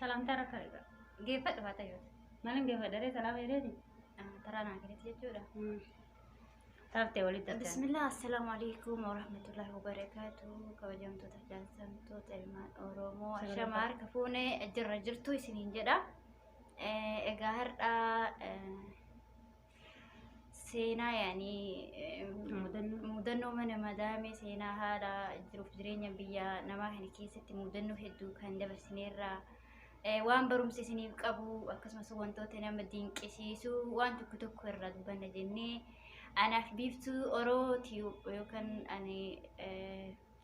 Salaamtaa rakka geeffadhu haa ta'u. Maalin geeffadha ree salaama jedheeti? Taraa naa kennetti jechuudha. Taaftee walitti adda. Bismillah assalaamu alaikum warahmatullahi wabarakatuh kabajamtoota jaalsamtoota ilmaan Oromoo ashama harka fuune jirra jirtu isiniin jedha. Egaa har'a seenaa yaanii mudannoo mana madaamee seenaa haala jiruuf jireenya biyya namaa kana keessatti mudannoo hedduu kan dabarsineerraa waan barumsa isiniif qabu akkasumas wantoota nama dinqisiisu waan tokko tokko irraa dubbanna jennee anaaf biiftuu oroo tiyuu yookaan ani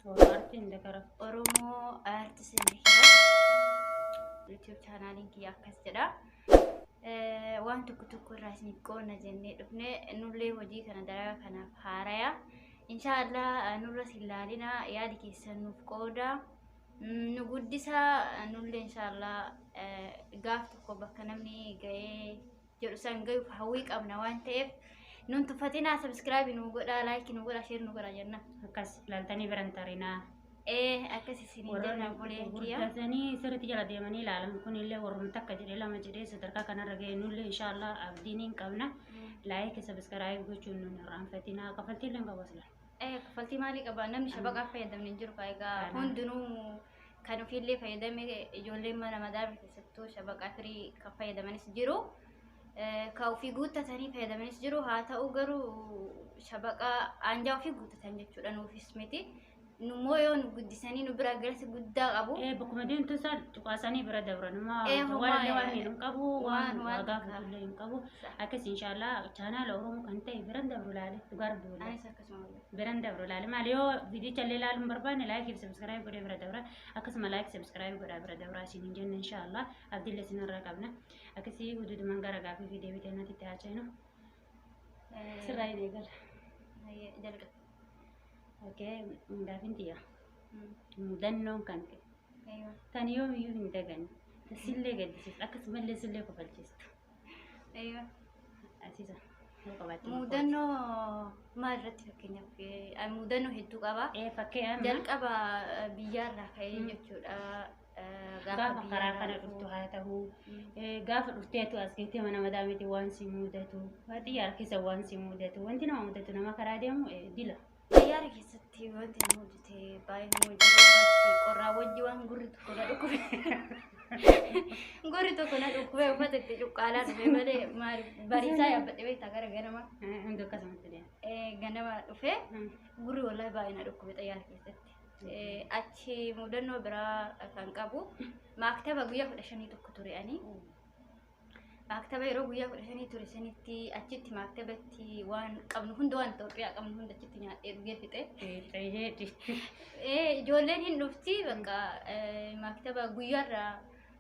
So art and karaf Oromoo art sinni kira YouTube chaanaaliin kiyya akkas jedha. Waan tokko tokko irraa isin qoonna jennee dhufne nullee hojii kana dalagaa kanaaf haaraya. Inshaallah nurra sin laalina yaadi keessan nuuf qooda. Nu guddisa nullee inshaallah gaaf tokko bakka namni ga'ee jedhu san gayuuf hawwii qabna waan ta'eef nun tuffatinaa sabiskiraabii nu godhaa laayikii nu godhaa sheer nu godhaa jenna. Akkas ilaaltanii biran tarinaa. Ee akkas isin jenna buleen kiyya. Gurgurtatanii sirriitti jala deemanii ilaalan kunillee warrum takka jedhee lama jedhee sadarkaa kanarra ga'e nullee inshaallah abdiin hin qabna. Laayikii sabiskiraabii gochuun nun irraanfatinaa kafaltiillee hin qabu asila. Ee kaffaltii maalii qaba namni shabaqaa fayyadamne hin jiru kaa egaa Kana. hundinuu kan ofiillee fayyadame ijoolleen mana madaala keessattuu shabaqaa firii kan fayyadamanis jiru. Kan ofii guuttatanii fayyadamanis jiru. Haa ta'u garuu shabaqa aanjaa ofii guuttatan jechuudha nuufis miti. Nummoo yoo nu guddisanii nu bira galsi guddaa qabu. Ee bakkuma deemtu isaan cuqaasanii bira dabran amma Ee, homaa, waan illee waan ee, miidhu hin qabu waan waan waan waagaa takka. fudhu illee hin qabu Sa'a. akkas inshaallah chaanaala oromoo kan ta'e biran dabru ilaale dhugaa rabbi waliin. Anis akkasuma. biran dabru laali maal yoo viidiyicha illee ilaaluu hin barbaanne laayik fi sabskiraayib godhee bira dabra akkasuma laayik sabskiraayib godhaa bira dabra isin hin jenne inshaallah abdillee isin irraa qabna akkasii hududuman gara gaafii fi deebii kennatti itti haachaynu sirraa hin eegala Hayyee, jalqaba. okay gaafin tiyya Mm. mudannoon kan kee Eeyyoon. tan yoomiyyuu hin daganne sillee gaddisiistu akkasumallee sillee kofalchiistu Eeyyee. Asiisa. Ni qabaatti. Mudannoo maal irratti fakkeenyaaf eh, ani mudannoo hedduu qaba. Ee fakkii amma Jalqaba eh, biyyaarraa ka'ee Mm. jechuudha. eh, gaafa karaa biyyaarraa kana dhufu. dhuftu haa ta'u. Mm. Eh, gaafa dhufteetu as geettee mana madaa miti waan si mudatu xiyyaara keessa waan si mudatu wanti nama mudatu nama karaa deemu eh, dila Xayyaara keessatti wanti inni hojjete baay'ee nama jiru qorraa wajji waan gurri tokko na dhukkube. Gurri tokko na dhukkube uffata itti cuqqaalaa dhufe malee maal bariisaa yaabbadhe beektaa gara ganama Hundi akkasumatti deema. eh, ganama dhufe gurri wallahi baay'ee na dhukkube xayyaara keessatti. Eh, Achi mudannoo biraa kan qabu maaktaba guyyaa kudha shanii tokko ture ani. maaktaba yeroo guyyaa kudha shanii ture sanitti achitti maaktabatti waan qabnu hunda waan Itoophiyaa qabnu hunda achitti nyaadhee dhugee fixe. Eeyyee. Eh, Ijoolleen hin dhufti bakka eh, maaktaba guyyaarraa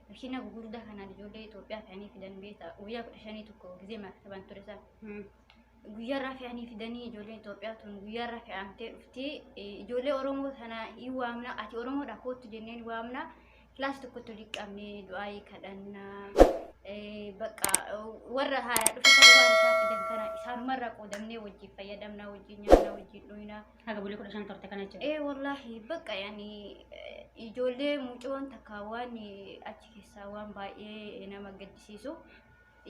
makiina gugurdaa kanaan ijoollee Itoophiyaa fe'anii fidan beekta guyyaa kudha shanii tokko gizee maaktabaan ture sana. guyyaarraa fe'anii fidanii ijoolleen Itoophiyaa tun guyyaarraa fe'amtee dhufti. Eh, Ijoollee Oromoo sana hin waamna, ati Oromoodha kootu jenneen waamna. kilaas tokkotti walitti qabnee du'aayii kadhannaa eh, bakka eh, warra haaraa dhufatan waan isaan fidan kana isaanumarraa qoodamnee wajjin fayyadamnaa wajjin nyaannaa wajjin dhuynaa Haga bulii kudha shan turte kana jechuudha. ee wallaahi bakka yaani eh, ijoollee mucoon takka waan eh, achi keessaa waan baay'ee nama gaddisiisu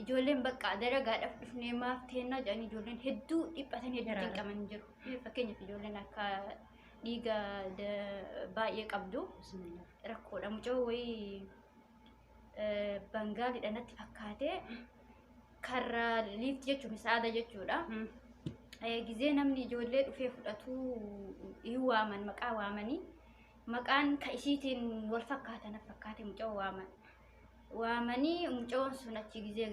ijoolleen bakka dalagaadhaaf dhufnee maaf teennaa jedhanii ijoolleen hedduu dhiphatan hedduu Garaadha. cinqaman jiru fakkeenyaaf ijoolleen akka dhiiga baay'ee qabdu rakkoodha mucoo wayii bangaaliidha natti fakkaatee karra liifti jechuun saada jechuudha. Gizee namni ijoollee dhufee fudhatu hin waaman maqaa waamanii maqaan ka isiitiin wal fakkaata na fakkaate mucoo waaman. Waamanii mucoon sun achi gizee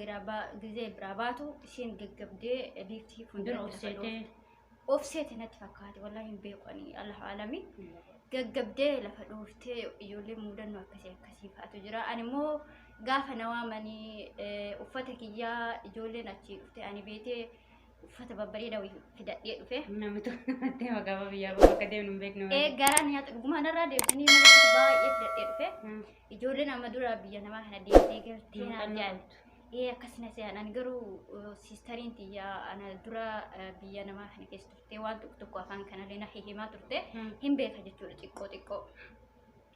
biraa baatu isiin gaggabdee liifti fuuldura of seete natti fakkaate wallahi hin beeku ani alaa alami gaggabdee lafa dhooftee ijoollee muudannoo akkasii akkasii fa'atu jira ani immoo gaafa na waamanii eh, uffata kiyyaa ijoolleen achii dhufte ani beetee uffata babbareeda wayii fidadhee dhufe Namni tokko namatti hima gaafa biyyaa bahu akka deemnu hin beeknu. ee garaan nyaata dhugumaan irraa deebisanii mana uffata baay'ee fidadhee dhufe Hmm. ijoolleen amma dura biyya namaa kana deemtee galtee naan Muuxannoo jedhan qabdu. Ee akkasi na se'an ani garuu eh, siistariin tiyya ana dura eh, biyya namaa kana keessa turte waan tokko tokko afaan kanallee na hihimaa turte Mm. hin beeka jechuudha xiqqoo xiqqoo.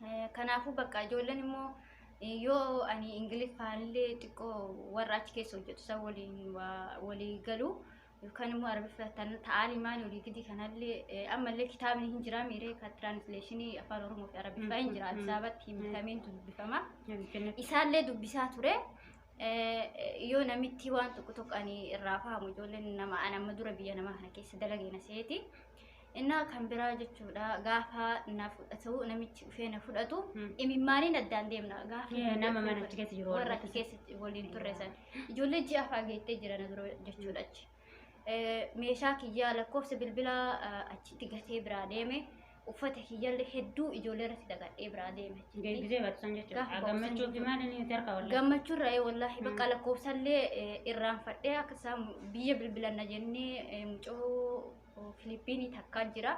Eh, Kanaafuu bakka ijoolleen immoo eh, yoo ani ingiliffaallee xiqqoo warra achi keessa hojjetu san waliin waa- walii galu yookaan immoo arabiffatan ta'aalimaan olii gidi kanallee eh, ammallee kitaabni hin jiraa miiree ka tiraansleeshinii afaan oromoo fi arabiffaa hin jira addis ababatti hin bitameen dubbifama isaallee dubbisaa ture Eh, yoo namitti waan tokko tokko ani irraa fahamu ijoolleen nama an amma dura biyya namaa kana keessa dalagee na seeti Innaa kan biraa jechuudha gaafa na fudhatu namichi dhufee na fudhatu Hmm. imimmaaniin addaan deemna gaafa Kee na nama mana achi keessa jiru warra warra achi keessatti waliin turre san ijoollee ji'a afaa geettee jira na dura jechuudha achi Eh, meeshaa kiyyaa lakkoofsa bilbilaa eh, achitti gatee biraa deeme uffata kiyyaallee hedduu ijoollee irratti dagadhee biraa deeme achitti. Deebisee barsiisan jechuudha. Gaafa barsiisan Gammachuu fi jechuudha. maal inni tarka wallee. gammachuu irraa wallaahi bakka Mm. lakkoofsallee eh, irraanfadhee akka isaan biyya bilbilanna jennee eh, mucoo Filiippiinii takkaan jira.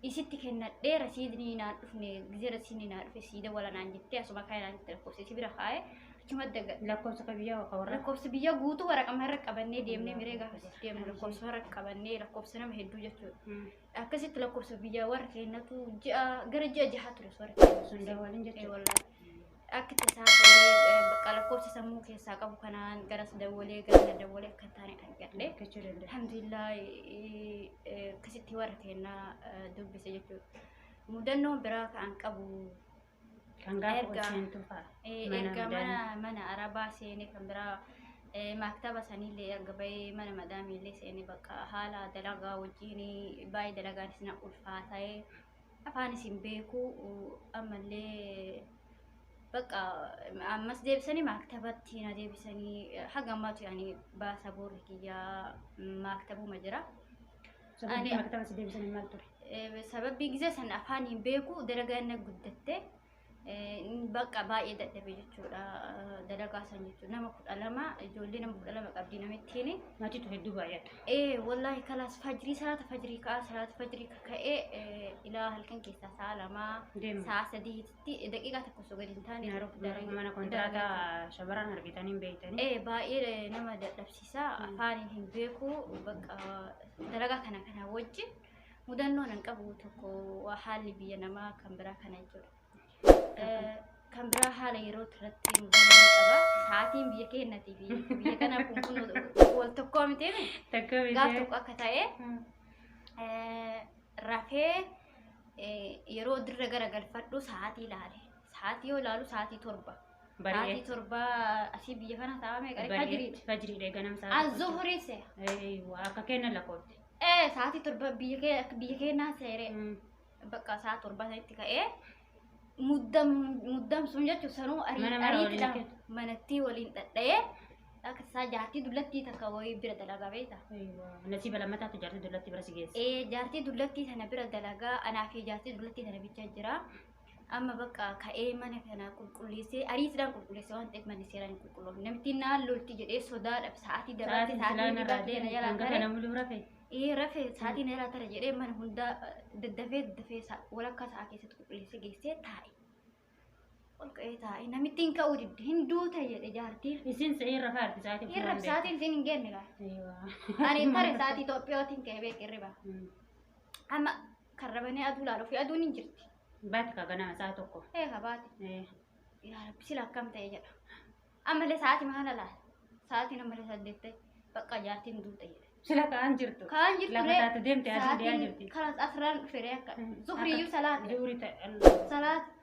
Isitti kennadhee rasiidni naan dhufne gizee rasiidni naa dhufe siida wala naan jettee asuma kaa'e naan jette lakkoofsa isi bira kaa'e achuma daga Lakkoofsa ka biyyaa ka warra. lakkoofsa biyya guutuu waraqama irra qabannee deemnee miree gaafa sitti deemnu lakkoofsa irra qabannee lakkoofsa nama hedduu jechuudha. Mm. Akkasitti lakkoofsa biyyaa warra keenyatu ji'a gara ji'a jahaa ture warra Sun dawwalin jechuudha. keenyatu. Akka tasaa ta'ee bakka lakkoofsa sammuu keessaa qabu kanaan garas dawwalee gara na dawwalee akka hin taane argadhe. Argachuu danda'a. Alhamdulillah eh, eh, akkasitti warra keenyaa eh, dubbise jechuudha. Mudannoon biraa kan qabu Kan gaafa Erga- bulchiintuu fa'a. Eh, Mana erga madaamii. mana mana arabaa seenee kan biraa eh, maktaba sanillee erga bahee mana madaamiillee seenee bakka haala dalagaa wajjin baay'ee dalagaanis na ulfaata'ee afaan isin beekuu ammallee bakka ammas deebisanii maaktabatti na deebisanii haga ammaatu yaani baasa boorri kiyyaa maaktabuma jira. Sababni Ani- maktaba si deebisanii maal ture? Eh, Sababii gizee san afaan hin beeku dalagaan na guddatte. Bakka baay'ee dadhabe jechuudha. Dalagaa san jechuudha. Nama kudha lama ijoollee nama kudha lama qabdi namittiin. Maatiitu hedduu baay'ata. Ee wallaahi kalaas fajrii salaata fajrii ka'a salaata fajrii ka'ee ilaa halkan keessaa sa'a lamaa Deema. sa'a sadiitti daqiiqaa tokko osoo gadi hin taane Nyaaroo mana kontiraataa shamarran argitanii hin beektanii. Ee baay'ee nama dadhabsiisa afaaniin hin beeku bakka dalagaa kana kana wajjin Mudannoon an qabu tokko waa haalli biyya namaa kan biraa kana jechuudha. Eh, Kan biraa haala yeroo irratti mudannoo ni qaba. Sa'aatiin biyya keenyatii fi biyya kanaa kun kun wal tokkoo miti. Takka Gaaf tokko akka ta'e eh, rafee eh, yeroo dirra gara galfadhu sa'aatii ilaale. Sa'aatii yoo ilaalu sa'aatii torba. Sa'aatii Bari'ee. torba asii biyya kana taa'ame qaree Bari'ee. fajiriiti. Fajiriidha ganam sa'aatii. Azuhurii se'a. Eeyyuu, Akka kenna lakkoofte. Ee sa'aatii torba biyya kee akka biyya keenyaa seeree mm, bakka sa'a torba sanitti ka'ee muddam muddamsuun jechuun sanuu arii- Mana mana ariitiidhaan waliin jechuudha. manattii waliin dhadha'ee akka isaa jaartii dullattii takka wayii bira dalagaa beekta. Nasiiba lammataatu jaartii dullatti bira si geesse. Ee jaartii dullattii sana bira dalagaa anaa fi jaartii dullattii sana bichaa jira. Amma bakka ka'ee mana kana qulqulleessee ariitiidhaan qulqulleessee waan ta'eef manni seeraan hin qulqulloofne. Namittiin naan lolti jedhee sodaadhaaf sa'aatii dabalatee Sa'aatiin silaa sa'aatii narraa deemu kan gata deemu. namuluu rafe. Ee rafee sa'aatii na jalaa tara jedhee mana hundaa daddafee daddafee sa- walakkaa sa'aa keessatti qulqulleessee geessee taa'e. Ol ka'ee taa'e namittiin ka'uu didde hin duute jedhe jaartiin. Isin sa'ee rafaa arti sa'aatii kun Hirrab waan sa'aatiin isin hin geenne gaa. beeku. Ani tare sa'aatii Itoophiyootiin ka'ee beeku hirriba. Mm. Amma Karra banee aduu laala ofii aduun hin jirti. Baati kaa ganama isaa tokko. Ee habaati. Ee, Yaa rabbi sila akkam ta'e jedha. Ammallee sa'aatii maala laala. Sa'aatiin ammallee saddeet ta'e bakka jaartiin duute jedha. Sila kaan jirtu. Kaan jirtu Lafa ree. taate deemte aduu deemaa jirti. Kanas asirraan dhufee ree akka. Zuhriyyuu salaate. Duuri ta'e. Salaat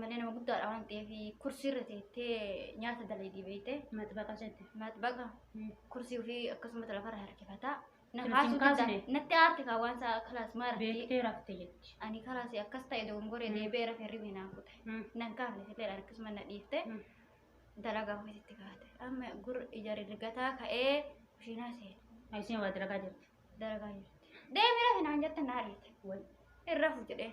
Manni nama guddaadha waan ta'eef kursii irra teettee nyaata dalaydii beeyte. Maxbaqa jette. Maxbaqa kursii ofii akkasumas lafarra harkifataa. Na Sirriitti kaasuu hin kaasne? danda'a. Natti aarti kaa waan isaa kalaas maara. Beektee rafte jetti. Ani kalaas akkas ta'e dogongoree Mm. deebi'ee rafee ribee naan kute. Mm. Nan kaafne fitee harkisuma na dhiifte. Mm. Dalagaa ofiitti kaate. Amma gur ija rigataa ka'ee kushiinaa seene. Ayiseen waa dalagaa jirti. dalagaa jirti. Deemi rafi naan jette naa dhiite. Wal. Hin rafu jedhee.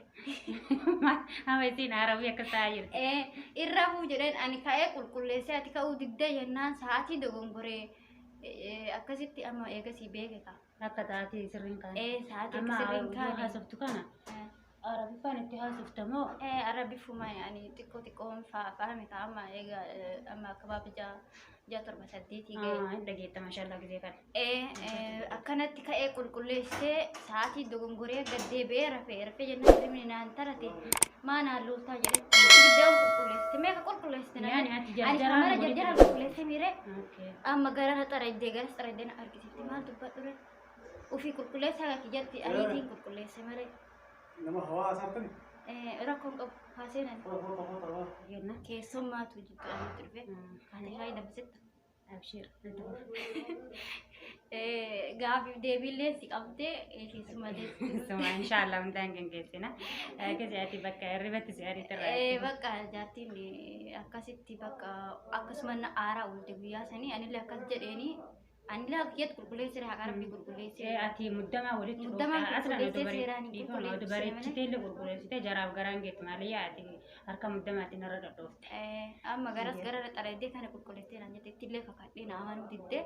Amma isiin haarabii akka ta'aa jirti. Ee, Hin rafu jedheen ani ka'ee qulqulleessee ati ka'uu didda jennaan sa'aatii dogongoree eh, akkasitti amma eegasii beeke ka. Akka taatee sirriin kaa'e. Ee, sa'aatii Amma sirriin yoo kaane. haasoftu kana Eh, Arabiffaan itti haasofta moo? Eh, Arabiffuma yaani xiqqoo xiqqoon faa faa mita amma eega eh, amma akka baabijaa jaa torba saddeetii ga'e. Ah, hin dhageetta mashallah gizee kana. Eh, eh, akkanatti ka'ee qulqulleessee sa'aatii dogongoree gad deebi'ee rafee rafee jennaan hirmni naan tarate maa naan looltaa jedhetti ibiddaan qulqulleessite meeqa qulqulleessite naan Yaani ati ani jarjaraan kamara walitti jarjaraan qulqulleessee miiree Okay. amma gara na xarajjee garas xarajjee na argisiifte maal dubbadhure Ofii qulqulleessaa gaafi jatti ayiitiin qulqulleesse maree. Nama hawaasaa tuni. Rakkoon qabu haaseenan. Yenna. Keessummaatu jiddu ayiitti dhufe. Ani haa hidhamsitta. Abshiir. Gaafiif deebiillee si qabdee keessummaa deessi. Suma inshaallah hundaan gaggeessina. Akka si'aati bakka hirribatti si'aati Eh, irraa. bakka jaartiin eh, akkasitti bakka akkasuma na aaraa oolte guyyaa sanii anillee akkas jedheeni Anilaa kiyyatti qulqulleessee jira haqaa rabbii qulqulleessee. Ee ati muddamaa walitti Muddamaa dhuftaa asirra qulqulleessee dubaree seeraan hin dhiifama qulqulleessu dubaree seemanii. chitee illee qulqulleessitee jaraaf garaan geetti malee yaa ati harka muddamaatiin irra dhodhoofte. Eh, amma garas gara xalayidee kana qulqulleessee naan jette ittillee kakadhee na amanuu diddee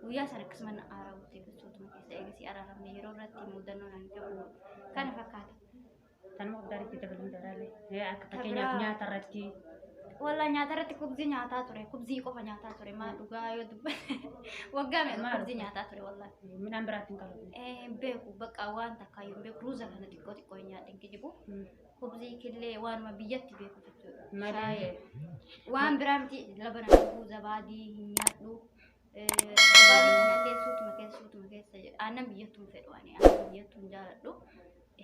guyyaa sana akkasuma na aaraa'utti gosootuma keessa eegasii araaramne yeroo irratti mudannoo naan qabu kana fakkaata. Tanuma abdaara itti dabaluun daraalee. Ee, Akka fakkeenyaaf biraa- nyaata irratti Walaa nyaata irratti kubzii nyaataa ture. Kubzii qofa nyaataa ture. Maa dhugaa yoo dubbate waggaa meeqa Maal? kubzii nyaataa ture walaa. midhaan biraatti hin qabu. Eh, hin beeku bakka waan takka hin beeku ruuza kana xiqqoo xiqqoo hin nyaadhe hin kijibu kubzii killee waanuma biyyatti beeku jechuudha Malee. Shaayii. waan biraa miti labana dhuguu zabaadii hin nyaadhu Gabaabni kanallee suutuma keessa suutuma keessa jedha. Aannan biyyattuun fedhu ani aannan biyyattuun jaaladhu.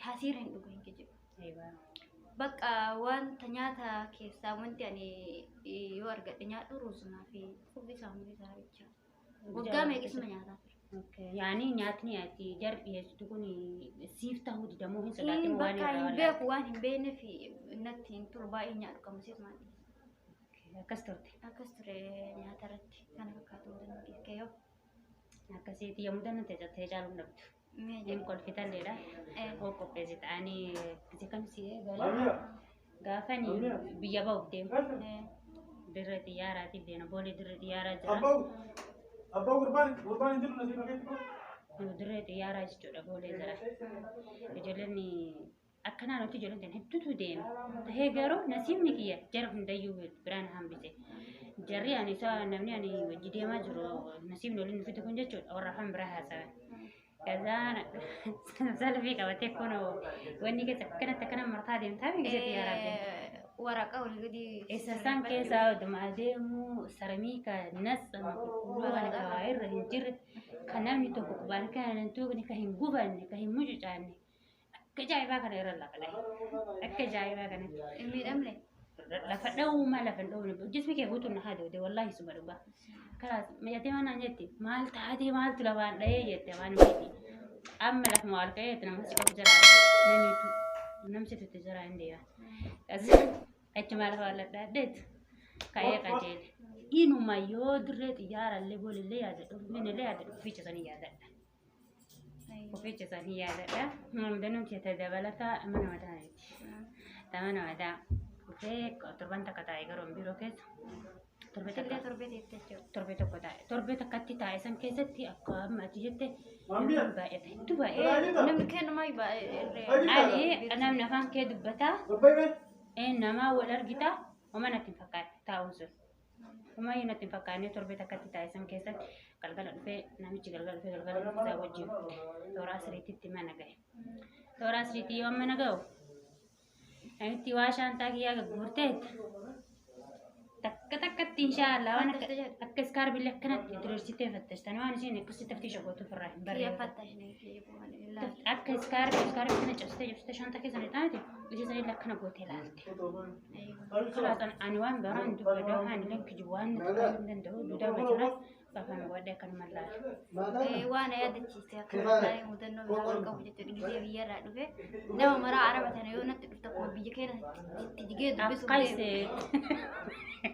Hasiira hin dhugu hin kijibu. Bakka wanta nyaata keessaa wanti ani eh, yoo argadhe nyaadhu ruuzumaa fi kubbisaa hundi isaa bicha. Waggaa meeqisuma nyaataa ture. Yaani nyaatni ati jar dhiyeessitu kun siif ta'uu didamoo hin Hin sodaatimo waan bakka irraa hin walaala. beeku waan hin beekne fi natti hin tolu baay'ee nyaadhu qamusiif maal dhiyeessa. Akkas turte. Akkas ture nyaata irratti kana fakkaatu mudannoo keessa kee yoo. Akkasiiti yoo mudannoon teessatti caaluun dhabdu. Mee Hin kolfitan dheedha. Eh. Oo qopheessi ta'anii itti kam si eegalee. Gaafan biyya ba'uuf deemu. Eh. Dirre xiyyaaraatiin deema. Boolee dirre xiyyaaraa jira. Abbau, abbau gurbaan, gurbaan hin jiru nasiif fakkeetti kun. Dirre xiyyaaraa jechuudha boolee jira. Ijoolleen akka naannootti ijoolleen hedduutu deema. Tahee garuu nasiibni kiyya jara hundayyuu biraan hambise. Jarri ani isaa namni ani wajji deemaa jiru nasiibni waliin nu fide kun jechuudha warra afaan biraa haasawa. Kazaan salfii qabatee kun wanni keessa akkanatti akkana martaa deemtaa fi keessatti yaa rabbi. Waraqa ol gadi. Eessasaan keessa oduma adeemu saramii ka natsa qulqulluu kan kawaa irra hin jirre kan namni tokko qubaan kan hin tuuqne kan hin gubanne kan hin mucucaanne Akka ajaa'ibaa kana irra lafa dhahe. Akka ajaa'ibaa kana hin miidhamne. Lafa dhahuu maa lafa hin dhahuu hojjetni kee guutuun na hadoode wallaahi suma dhugaa. Kalaas miidhatee waan naan jette maal taatee maaltu lafaan dhahee jette waan miiti. Amma lafa maal ka'ee itti nama si qabu jala namiitu namsi tutte jala hin deema. Kasi achumaa lafa walladhaadheetu ka'ee qajeele. Inuma yoo dirree xiyyaarallee boolillee yaadadhu finfinnellee yaadadhu fiichasanii yaadadha. Ofii keessan hin yaadadha. Mamdanuu keessa dabalata mana mataa miti. Mana mataa dhufee torban takka taa'e garuu biiroo keessa. Torbe Illee takka torbee deettee jechuudha. torbe tokko taa'e. Torbe takkatti taa'e san keessatti akka amma ati jette baay'ata. Hedduu baay'ee. Namni kennumaa baay'ee irree. Ani namni afaan kee dubbataa ee namaa wal argitaa homaa natti hin fakkaatu taa'uun sun. Ammayyuu natti hin fakkaannee torbee takkatti taasisan keessatti galgala dhufee namichi galgala dhufee galgala dhufee isaa wajjin tooraa siriititti mana gahe. Tooraa siriitii yoo mana gahu namitti waa shaantaa kiyyaa gagguurteet takka takkatti inshaallah waan akka akka iskaarbillee akkanatti diriirsitee fattashtan waan isiin akkasitti taftii shagootu ofirraa hin barree. Akka iskaarbii iskaarbii kana cabsitee cabsitee shaantaa keessan hin taate isiisan illee akkana gootee laalte. Kanaafan ani waan biraan dubbadha waan illee kijibuu waan nuti ta'uu hin danda'u duudaa bajjira safaan godhe kan mallaalu. waan na yaadachiise akkana taa'ee mudannoo biraa wal qabu jechuudha gisee biyya irraa dhufe nama maraa araba tana yoo natti dhufte akkuma biyya keenya itti jigee dubbisuuf Akkas deemu. ta'e.